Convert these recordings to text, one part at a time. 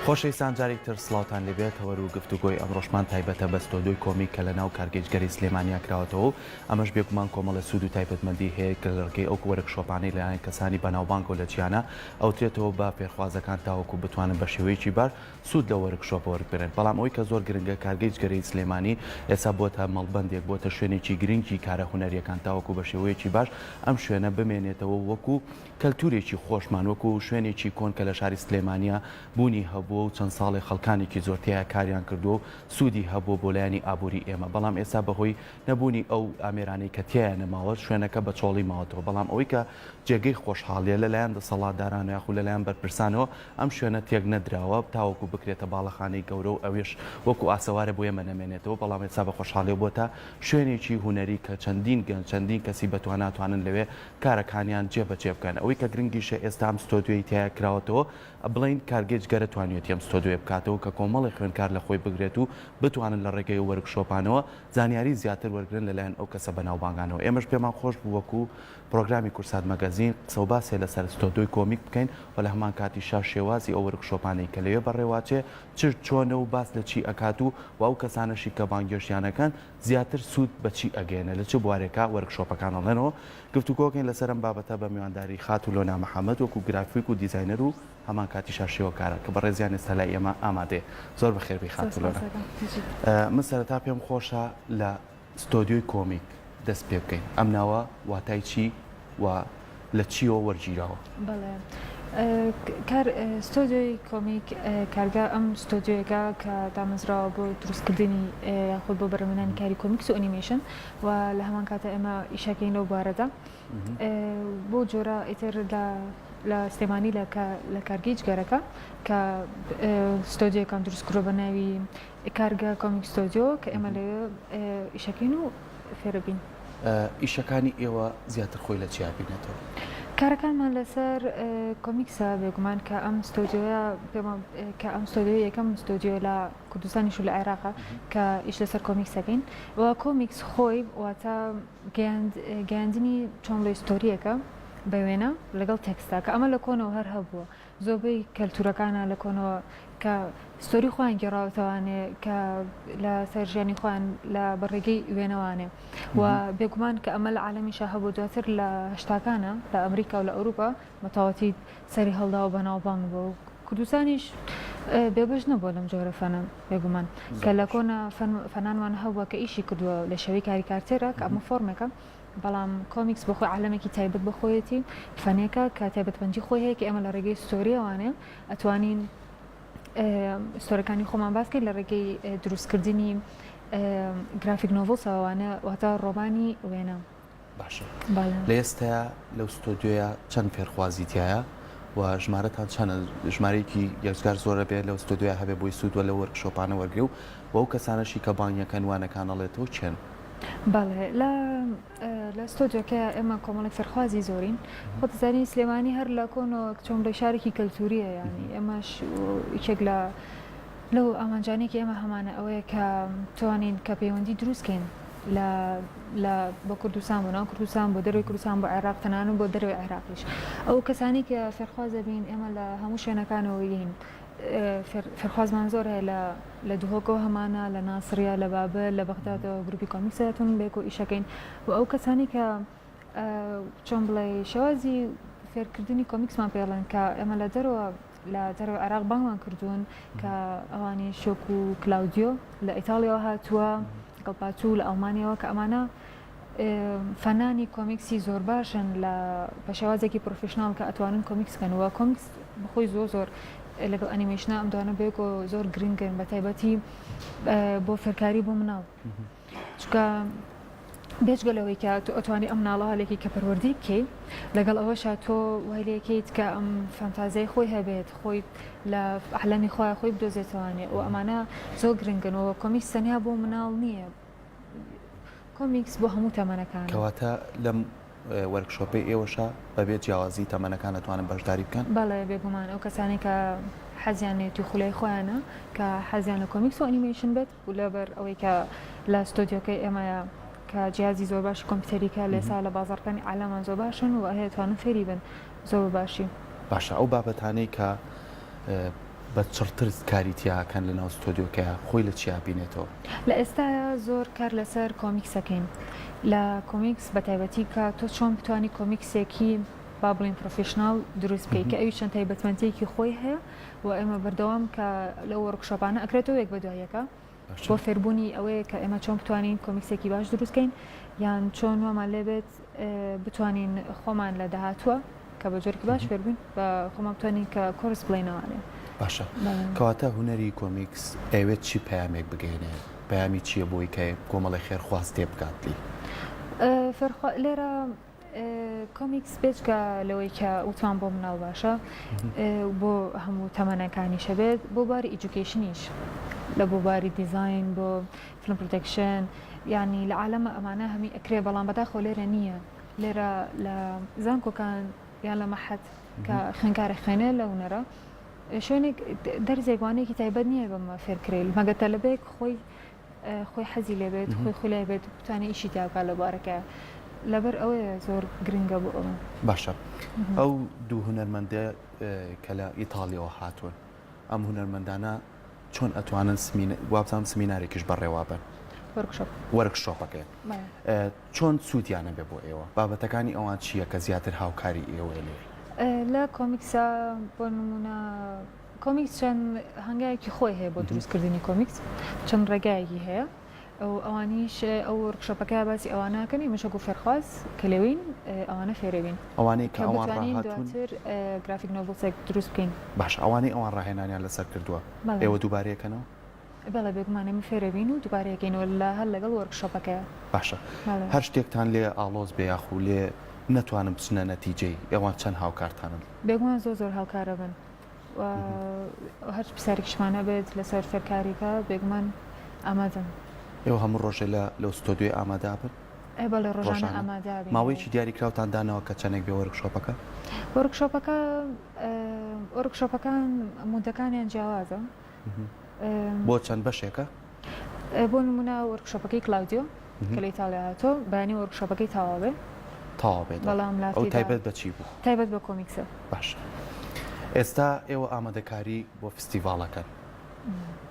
خۆشەویستان جارێک تر سڵاوتان لێبێت تەوەر و گفتوگۆی ئەمڕۆشمان تایبەتە بە ستۆدیۆی کۆمیک کە لەناو کارگەیشتگەلی سلێمانیا کراوەتەوە و ئەمەش بێگومان کۆمەڵە سوود و تایبەتمەندی هەیە کە لەڕێگەی ئەو وەرکشۆپانەی لەلایەن کەسانی بەناوبانگەوە لە جیهانا ئەوترێتەوە بە فێرخوازەکان تاوەکو بتوانن بە شێوەیەکی باش سوود لە وەرکشۆپە وەربگرن بەڵام ئەوەی کە زۆر گرنگە کارگەی جگەرەی سلێمانی ئێستا بووەتە مەڵبەندێک بووەتە شوێنێکی گرنگی کارە هونەریەکان تاوەکو بە شێوەیەکی باش ئەم شوێنە بمێنێتەوە وەکو کەلتورێکی خۆشمان وەکو شوێنێکی کۆن کە لە شاری سلێمانیە بوونی هەبووە و چەند ساڵێ خەڵکانێکی زۆر تێیا کاریان کردووە و سوودی هەبووە بۆ لایەنی ئابووری ئێمە بەڵام ئێستا بەهۆی نەبوونی ئەو ئامێرانەی کە تیایا نەماوە شوێنەکە بە چۆڵی ماوەتەوە بەڵام ئەوەی کە جێگەی خۆشحاڵیە لە لایەن دەسەڵاتدارانەوە یاخود لە لایەن بەرپرسانەوە ئەم شوێنە تێک نەدراوە تاوەکو بکرێتە باڵەخانەی گەورە و ئەوێش وەکو ئاسەوارە بۆ ئێمە نەمێنێتەوە بەڵام ئێستا بە خۆشحاڵیەوە بۆتە شوێنێکی هونەری کە چەندین گەنج چەندین کەسی بەتوانا توانن لەوێ کارەکانیان جێ بە جێ بکەن ئەوەی کە گرنگیشە ئێستا ئەم ستۆدیۆی تیا کراوەتەوە بڵێین کارگەی جگەرە توانیوێتی ئەم ستۆدیۆیە بکاتەوە کە کۆمەڵێ خوێندکار لە خۆی بگرێت و بتوانن لە ڕێگەی ئەو وەرکشۆپانەوە زانیاری زیاتر وەرگرن لە لایەن ئەو کەسە بەناوبانگانەوە ئێمەش پێمان خۆش بوو وەکو پرۆگرامی کورسات مەگەزین قسە و باسێ لەسەر ستۆدیۆی کۆمیک بکەین و لە هەمان کاتیشا شێوازی ئەو وەرکشۆپانەی کە لەوێ بەڕێواچێ چ چۆنە و باس لە چی ئەکات و و ئەو کەسانەشی کە بانگێشتیان ئەکەن زیاتر سوود بە چی ئەگەیەنێ لە چ بوارێکا وەرکشۆپەکان ئەڵێنەوە گفتوگۆکەین لەسەر ئەم بابەتە بە میوانداری خاتوو لۆنا محەمەد وەکو گرافیک و دیزاینەر و هەمان کاتیشا شێوەکارە کە بەڕێزیان ئێستا لای ئێمە ئامادەیە زۆر بەخێر بێی خاتوو لۆنا من سەرەتا پێم خۆشە لە ستۆدیۆی کۆمیک دەست پێ بکەین ئەم ناوە واتای چی و لە چیەوە وەرگیراوە؟ بەڵێ کار ستۆدیۆی کۆمیک کارگە ئەم ستۆدیۆیەکە کە دامەزراوە بۆ دروستکردنی یاخود بۆ بەرەمەنانی کاری کۆمیکس و ئەنیمەیشن و لە هەمان کاتە ئێمە ئیشەکەین لەو بارەدا بۆ جۆرە ئیتر لە سلێمانی لە کارگەی جگەرەکە کە ستۆدیۆکان دروستکرۆ بە ناوی کارگە کۆمیک ستۆدیۆ کە ئێمە لەوێ ئیشەکەین و فێربین. ئیشەکانی ئێوە زیاتر خۆی لە چیا بینێتەوە؟ کارەکانمان لەسەر کۆمیکسە بێگومان کە ئەم ستۆدیۆیە پێمان کە ئەم ستۆدیۆ یەکەم ستۆدیۆ لە کوردستانیش و لە عێراقا کە ئیش لەسەر کۆمیکسەکەین و کۆمیکس خۆی واتە گەیاندنی چۆن لە ستۆریەکە بە وێنە لەگەڵ تێکستا کە ئەمە لە کۆنەوە هەر هەبووە زۆربەی کەلتورەکانە لە کۆنەوە کە ستۆری خۆیان گێڕاوەتەوانێ کە لە سەر ژیانی خۆیان لە بەڕێگەی وێنەوانێ و بێگومان کە ئەمە لە عالمیشا هەبوو دواتر لە هشتاکانە لە ئەمریکا و لە ئەوروپا مەتەواتی سەری هەڵدا و بەناوبانگ بوو و کوردستانیش بێبش نەبووە لەم جۆرە فەنە بێگومان کە لە کۆنە فەنانوان هەبووە کە ئیشی کردووە لە شێوەی کاریکارتێرە کە ئەمە فۆرمێکە بەڵام کۆمیکس بۆ خۆی عالەمێکی تایبەت بە خۆیەتی فەنێکە کە تایبەتمەندی خۆی هەیە کە ئێمە لە ڕێگەی ستۆریەوانێ ئەتوانین ستۆرەکانی خۆمان باسکەین لە ڕێگەی دروستکردنی گرافیک نۆڤڵسەوانە واتە ڕۆمانی وێنە باشە لە ئێستا لەو ستۆدیۆە چەند فێرخوازی تایە و ژمارەتان چەند ژمارەیەکی یەزگار زۆرە بێت لەو ستۆدیۆ هەبێ بۆی سوود وە لە وەرکشۆپانە وەرگێ و بەو کەسانەشی کە بانگەکەن وانەکانەڵێتەوە چێن بەڵێ لە لە ستۆدیۆکە ئێمە کۆمەڵی فەرخوازی زۆرین خۆتزانانی سلێمانی هەر لە کۆنەوە چۆن بە شارێکی کەلتوریە ینی ئێمەش یەک لە لەو ئامانجانێکی ئێمە هەمانە ئەوەیە کە توانین کە پەیوەندی دروستکەین لە بە کوردستان بۆ ناو کوردستان بۆ دەروی کوردستان بۆ عێراق تەنانن بۆ دەروی عێراقیش ئەو کەسانی کە فێرخوازە بین ئێمە لە هەموو شوێنەکانەوەین فێرخوازمان زۆر هەیە لە لە دهۆکەوە هەمانە لە ناسڕە لە بابە لە بەغدادەوە گروپی کۆمیکسەتون بێک و ئیشەکەین و ئەو کەسانی کە چۆن بڵێ شێوازی فێرکردنی کۆمیکسمان پێڵێن کە ئێمە لە دەرەوە لە دەرەوە عراق بانگمان کردوون کە ئەوانی شۆک و کلااودیۆ لە ئیتاڵیەوە هاتووە گەڵپاتوو لە ئەڵمانیەوە کە ئەمانە فەنانی کۆمیکسی زۆر باشن لە بە شێوازێکی پرۆفیشناڵ کە ئەتوانن کۆمیکس کەن وە کۆمیکس بخۆی زۆر زۆر لەگەڵ ئەنیمەیشنا ئەم دوانە بێک و زۆر گرنگن بە تایبەتی بۆ فێرکاری بۆ مناڵ چکە بێجگە لەوەی کە تۆ ئەتوانی ئەم ناڵە هەلێکی کە پەروەردی بکەیت لەگەڵ ئەوەشە تۆ وای لەکەیت کە ئەم فەنتازای خۆی هەبێت خۆی لە عالەمی خۆی خۆی بدۆزێتوانێت و ئەمانە زۆر گرنگنەوە کۆمیکس تەنیا بۆ مناڵ نییە کۆمیکس بۆ هەموو تەمەنەکان کەواتە لەم وەرکشۆپی ئێوەشە بەبێ جیاوازی تەمەنەکان دەتوانن بەشداری بکەن بەڵێ بێگومان ئەو کەسانی کە حەزیان لێتی خولای خۆیانە کە حەزیان لە کۆمیکس و ئەنیمەیشن بێت و لەبەر ئەوەی کە لە ستۆدیۆکەی ئێمەیە کە جیازی زۆر باشی کۆمپیوتەریکە لێسا لە بازارکانی علامان زۆر باشن و هەیەتوانن فێری بن زۆر باشی باشە ئەو بابەتانەی کە بە چڕتر کاری تیا ئەکەن لەناو ستۆدیۆکەیا خۆی لە چیا ئەبینێتەوە. لە ئێستایا زۆر کار لەسەر کۆمیکس ئەکەین لە کۆمیکس بە تایبەتی کە تۆ چۆن بتوانی کۆمیکسێکی با بڵێین پڕۆفیشناڵ دروست بکەی کە ئەویش چەند تایبەتمەندیەکی خۆی هەیە و ئێمە بەردەوام کە لەو وۆرکشۆپانە ئەکرێتەوە یەک بە دوای یەکە بۆ فێربوونی ئەوەیە کە ئێمە چۆن بتوانین کۆمیکسێکی باش دروستکەین یان چۆن وامان لێبێت بتوانین خۆمان لە داهاتوە کە بە جۆرکی باش فێربووین بە خۆمان بتوانین کە کۆرس بڵێنەوانێ باشە کەواتە هوەری کۆمیکس ئەوێت چی پامێک بگەێنێ پامی چییە بۆی کە کۆمەڵی خێرخواز تێ بکاتلی فێرخوا لێرە کۆمیکس بێجگە لەوەی کە وتمان بۆ مناڵ باشە بۆ هەموو تەمەەنەکانیشە بێت بۆ باری ئیجوکیشنیش لە بۆ باری دیزین بۆ فلم پرۆتەکشن ینی لە عالەمە ئەمانە هەمی ئەکرێ بەڵام بەداخۆ لێرە نییە لێرە لە زانکۆکان یان لە مەحەت کە خوێنکارە خوێنێ لە هوەرە شوێنێک دەرزێکوانێکی تایبەت نییە بەمە فێرکرێل مەگەتە لەبێک خۆی خۆی حەزی لێبێت خۆی خولای بێت بتوانێت ئیشی تیا بکات لە بارەکە لەبەر ئەوەیە زۆر گرنگە بۆ ئەوە باشە ئەو دوو هونەرمەندە کە لە ئیتاالیەوە هاتوون ئەم هونەرمەندانە چۆن ئەتوانن وابزانام سمینارێکیش بەڕێوا بن وەرکشۆپەکەی چۆن سوودیانە بێ بۆ ئێوە بابەتەکانی ئەوان چییە کە زیاتر هاوکاری ئێوەێ لە کۆمیکسا بۆ نمونە کۆمیکس چەند هەنگاوێکی خۆی هەیە بۆ دروست کردنی کۆمیکس چەند ڕێگایەکی هەیە ئەو ئەوانیش ئەو ورکشۆپەکە باسی ئەوانەکەنی مشک و فێرخواز کە لەوین ئەوانە فێرەوین ئەوانەی کە ئەوان دواتر گرافیک نۆڤڵسێک دروست بکەین باش ئەوانەی ئەوان ڕاهێنانیان لەسەر کردووە ئێوە دووبارەیەکەنەوە بەڵێ بێگومانێ من فێرەبین و دووبارەیەکەینەوە لە هەر لەگەڵ وەرکشۆپەکەیە باشە هەر شتێکتان لێ ئاڵۆز بێ یاخو لێ نەتوانم بچنە نەتیجەی ئێوان چەند هاوکارتانن بێگومان زۆر زۆر هاوکارە بن و هەرچ پرسیارێکیشمان هەبێت لەسەر فێرکارییەکە بێگومان ئامادەن. ئێوە هەموو ڕۆژێ لە لەو ستۆدیۆیە ئامادە بن؟ ئەی بەڵێ ڕۆژانە ئامادە ئەبین. ماوەیەکی دیاری کراوتان داناوە کە چەندێک بێ وۆرکشۆپەکە؟ وۆرکشۆپەکە وۆرکشۆپەکان مودەکانیان جیاوازە بۆ چەند بەشێکە؟ بۆ نمونە وەرکشۆپەکەی کلاودیۆ کە لە ئیتاڵیا هاتۆ بەیانی وەرکشۆپەکەی تەواوێ تەواوێت بەڵام لا تایبەت بە چی بوو تایبەت بە کۆمیکسە باش ئێستا ئێوە ئامادەکاری بۆ فستیڤاڵەکەن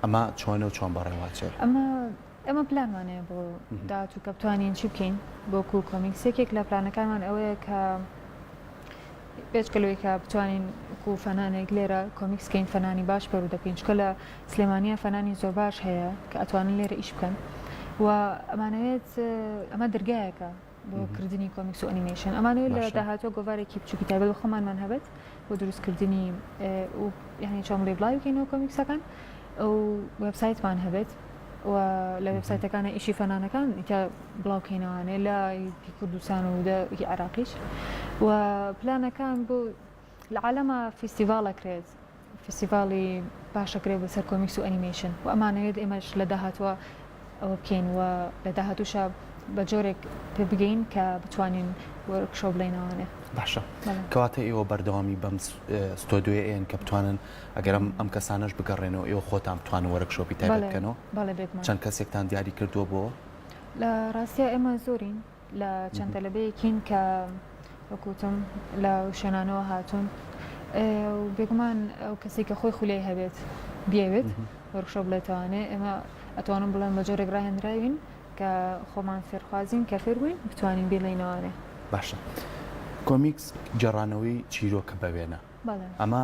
ئەمە چۆنە و چۆن بەڕێواچێ ئەمە ئێمە پلانمان هەیە بۆ داهاتوو کە بتوانین چی بکەین بۆ کوو کۆمیکس یەکێک لە پلانەکانمان ئەوەیە کە پێچکەلەوەی کە بتوانین کو فەنانێک لێرە کۆمیکسکەین فەنانی باش پەرو دەکەین چکە لە سلێمانیا فەنانی زۆر باش هەیە کە ئەتوانن لێرە ئیش بکەن و ئەمانەوێت ئەمە دەرگایەکە بۆ کردنی کۆمیکس و ئەنیمەیشن ئەمانەوە لە داهاتوە گۆوارێکی بچوکی تابێت بە خۆمانمان هەبێت بۆ دروستکردنی و یعنی چۆن بڵێ بڵاوی بکەینەوە کۆمیکسەکان ئەو وبسایتمان هەبێت و لە وبسایتەکانە ئیشی فەنانەکان کە بڵاوکەینەوانێ لە کوردستان و عراقیش و پلانەکان بۆ لە عالەما فیستیڤاڵ ئەکرێت فیستیڤاڵی باش ئەکرێت بەسەر کۆمیکس و ئەنیمەیشن و ئەمانەوێت ئێمەش لە داهاتوە ئەوە بکەین و لە داهاتوشە بە جۆرێک پێ بگەین کە بتوانین وەرکشۆ بڵێنەوانێ باشە کەواتە ئێوە بەردەوامی بەم ستۆدیۆیەن کە بتوانن ئەگەرم ئەم کەسانەش بگەڕێنەوە ئێوە خۆتان بتوان وەرکشۆپی تایبەت بکەنەوە چەند کەسێکتان دیاری کردووە بۆ لە ڕاستە ئێمە زۆرین لە چەند تەلەبەیەکین کە وەکو وتم لە شوێنانەوە هاتوون و بێگومان ئەو کەسی کە خۆی خولی هەبێت بیاوێت وەرخشە بڵێتوانێ ئێمە ئەتوانم بڵێن بە جۆرێک ڕاهێنراوین کە خۆمان فێرخوازین کە فێر بووین بتوانین بێڵینەوانێ باشە کۆمیکس گەڕانەوەی چیرۆکە بە وێنە ئەمە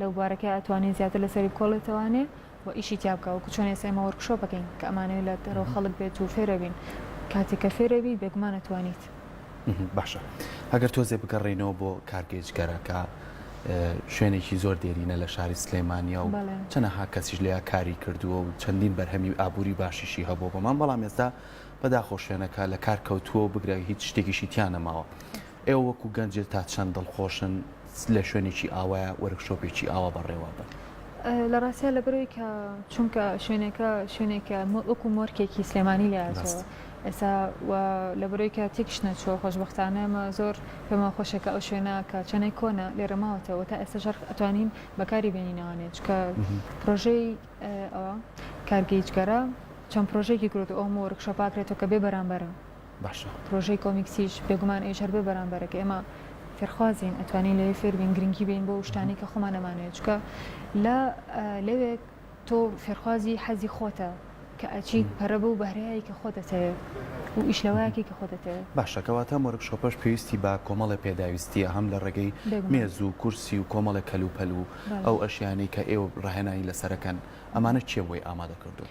لەو بوارە کە ئەتوانێ زیاتر لەسەری بکۆڵێتەوانێ و ئیشی تیا بکە وەکو چۆن ئێستا ئێمە وەرکشۆپەکەین کە ئەمانەوێ لە دەرەوە خەڵک بێت و فێرەبین کاتێک کە فێرەبی بێگومان ئەتوانیت. باشە ئەگەر تۆزێ بگەڕێینەوە بۆ کارگەیجگەرە کە شوێنێکی زۆر دێرینە لە شاری سلێمانیا و چەنەها کەسیش لێیا کاری کردووە و چەندین بەرهەمی ئابووری باشیشی هەبوو بەمان بەڵام ئێستا بەداخۆ شوێنەکە لە کار کەوتووە و بگرە هیچ شتێکیشی تیا نەماوە. ئێوە وەکو گەنجێ تا چەند دڵخۆشن لە شوێنێکی ئاوایە وەرکشۆپێکی ئاوا بەڕێوە بن؟ لە ڕاستیا لەبەرەوەی کە چونکە شوێنەکە شوێنێکە وەکو مۆرکێکی سلێمانی لاتەوە ئێستا لەبەرەوەی کە تێکش نەچۆ خۆشببختانە ئەمە زۆر پێما خۆشەکە ئەو شوێنە کە چەنێ کۆنە لێرە ماوەتەوە تا ئێستا ژەرخ ئەتوانین بەکاری بێنینەوانێت چکە پرۆژەی کارگەیجگەرە چەند پرۆژێکی گرۆت ئەوم وەرکشە پاکرێتەوە کە بێ بەرامبەرە. باشە. پرۆژەی کۆمیکسیش بێگومان ئەویش هەر بۆ بەرامبەرە کە ئێمە فێرخوازین ئەتوانین لەوێ فێر بین گرنگی بین بۆ شتانەی کە خۆمان ئەمانەوێت چکە لە لەوێ تۆ فێرخوازی حەزی خۆتە کە ئەچیت پەرە بە و بەهرەیەکی کە خۆ دەتەوێت و ئیش لەوەیەکی کە خۆ دەتەوێت باشە کەواتە مۆرکشۆپەش پێویستی بە کۆمەڵی پێداویستیە هەم لە ڕێگەی بێگومان مێز و کورسی و کۆمەڵێک کەلوپەل و بەڵێ. ئەو ئەشیانەی کە ئێوە ڕاهێنانی لەسەرەکەن ئەمانە کێ بۆی ئامادە کردوون؟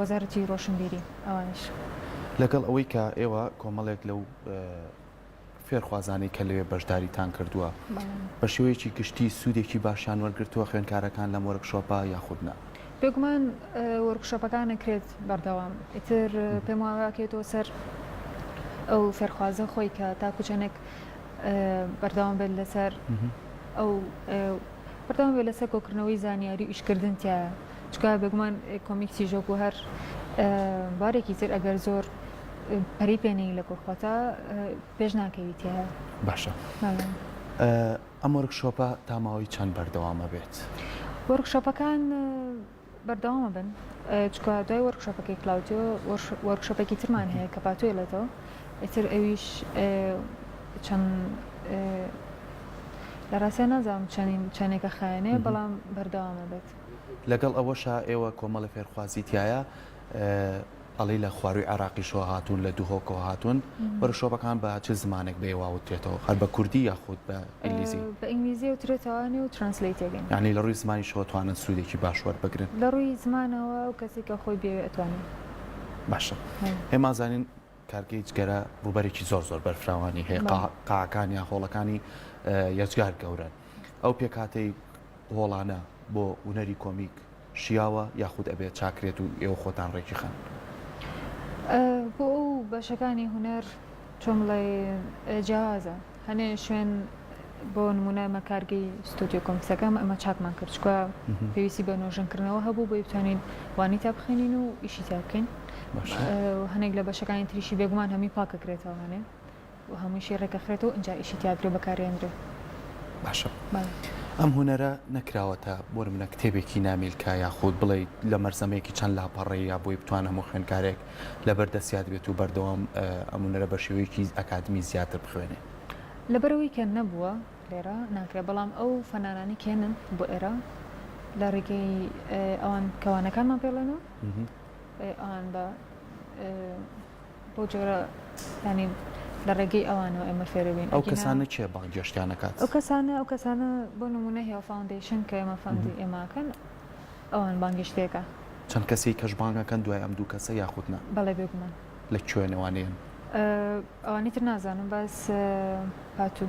وەزارەتی ڕۆشنبیری ئەوانیش. لەگەڵ ئەوەی کە ئێوە کۆمەڵێک لەو فێرخوازانەی کە لەوێ بەشداریتان کردووە بە شێوەیەکی گشتی سوودێکی باشیان وەرگرتووە خوێنکارەکان لەم وەرکشۆپە یاخود نا؟ بێگومان وەرکشۆپەکان ئەکرێت بەردەوام ئیتر پێم واکرێتەوە سەر ئەو فێرخوازە خۆی کە تاکو چەندێک بەردەوام بێت لەسەر ئەو بەردەوام بێت لەسەر کۆکردنەوەی زانیاری و ئیشکردن تایە چونکە بێگومان کۆمیک تیژۆک و هەر بارێکی تر ئەگەر زۆر پەری پێنی لە کۆخواتە پێش ناکەویت باشە ئەم وەرکشۆپە تاماوەی چەند بەردەوامە بێت وەرکشۆپەکان بەردەوامە بن چکە دوای وەرکشۆپەکەی کلااوتۆ وەرکشۆپێکی ترمان هەیە کە پاتۆی لێتەوە ئیتر ئەویش چەند لە ڕاستە نازانم چەندین چەندێکە خایەنێ بەڵام بەردەوامە بێت. لەگەڵ ئەوەشا ئێوە کۆمەڵی فێرخوازی تیایە ئەڵی لە خواروی عراقیشەوە هاتوون لە دوهۆکەوە هاتوون بەرە شۆپەکان بە چ زمانێک بێ واوترێتەوە هەر بە کوردی یاخود بە ئینگلیزی بە ئینگلیزی وترێتەوەێ و ترانسلیتێگەن یعنی لە ڕووی زمانی شەوەتوانن سوودێکی باش وەربگرن لە ڕووی زمانەوە و کەسێکە خۆی بێوێ ئەتوانین باشە هێمازانین کارگەی جگەرە ڕووبەرێکی زۆر زۆر بەرفراوانی هەیە قاکان یا هۆڵەکانی یەجگار گەورن ئەو پێکاتەی هۆڵانە بۆ ونەری کۆمیک شیاوە یاخود ئەبێت چاکرێت و ئێوە خۆتان ڕێکی خان بۆ ئەو بەشەکانی هوەر چۆمڵێ جیازە هەنێ شوێن بۆ نمونە ئەمە کارگەی ستۆدیۆ کۆمسەکەم ئەمە چاکمان کرد چکە پێویستی بە نۆژەنکردنەوە هەبوو بۆی بتوانین وانی تا بخێنین و ئیشی تا بکەین هەنێک لە بەشەکانی تریشی بێگومان هەمی پاکەکرێتەوە هەنێ و هەمووشی ڕێکەخرێتەوە ئەجا ئیشی تیاگرێ بەکارێندرێ باشە ئەم هوەرە نەکراوەتە بۆ منە کتێبێکی نامیلکە یاخود بڵێ لە مەرزەمێکی چەند لاپەڕەیە بۆی بتوانم و خوێنکارێک لەبەر دەستیاد بێت و بەردەوام ئەم هونەرە بە شێوەیەکی ئەکادمی زیاتر بخوێنێ. لەبەر ئەوەی کە نەبووە لێرە ناکرێ، بەڵام ئەو فەنانانەی کە یەنن بۆ ئێرە لە ڕێگەی ئەوان کە وانەکانمان پێ ڵێن و ئەوان بە بۆ جۆرە ینی لە ڕێگەی ئەوانەوە ئێمە فێرە بین ئەو کەسانە چێ بانگێشتیان نکات ئەو کەسانە ئەو کەسانە بۆ نمونە هێڵ فاوندیشن کە ئێمە فەندی ئێماکەن ئەوان بانگێشتیەکە. چەند کەسی کەش بانگ ئەکەن دوای ئەم دوو کەسە یاخود نا؟ بەڵێ بێگومان. لە کوێنەوانێن؟ ئەوانی تر نازانم بەس پاتوو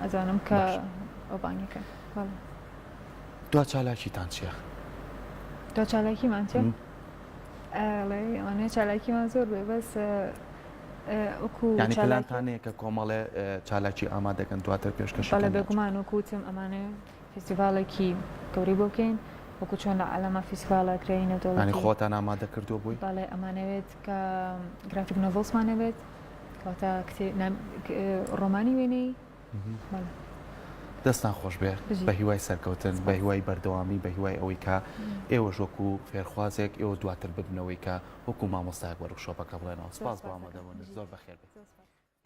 ئەزانم کە ئەو بانگی کرد بەڵێ. دوا چالاکیتان چیە؟ دوا چالاکیمان چیە؟ ئەڵێ ئەوانەیە چالاکیمان زۆر بێ بەس پلانتانەیە کە کۆمەڵێ چالاکی ئامادەکەن دواتر پێشکەش بەڵێ بێگومان وەکوتم ئەمانەیە فیستیڤاڵێکی گەورەی بۆ بکەین وەکو چۆن لە عالەما فیستیڤاڵە کرێی نەودەوڵەتی. یانی خۆتان ئامادە کردووە بۆی؟ بەڵێ ئەمانەوێت کە گرافیک نۆڤڵسمان هەبێت کەواتە ڕۆمانی وێنەی بەڵێ. دەستان خۆش بێت بە هیوای سەرکەوتن بە هیوای بەردەوامی بە هیوای ئەوەی کە ئێوەش وەکو فێرخوازێک ئێوە دواتر ببنەوەی کە وەکو مامۆستایەک وەرکشۆپەکە بڵێنەوە سپاس بۆ ئامادەبوونت زۆر بەخێربێن.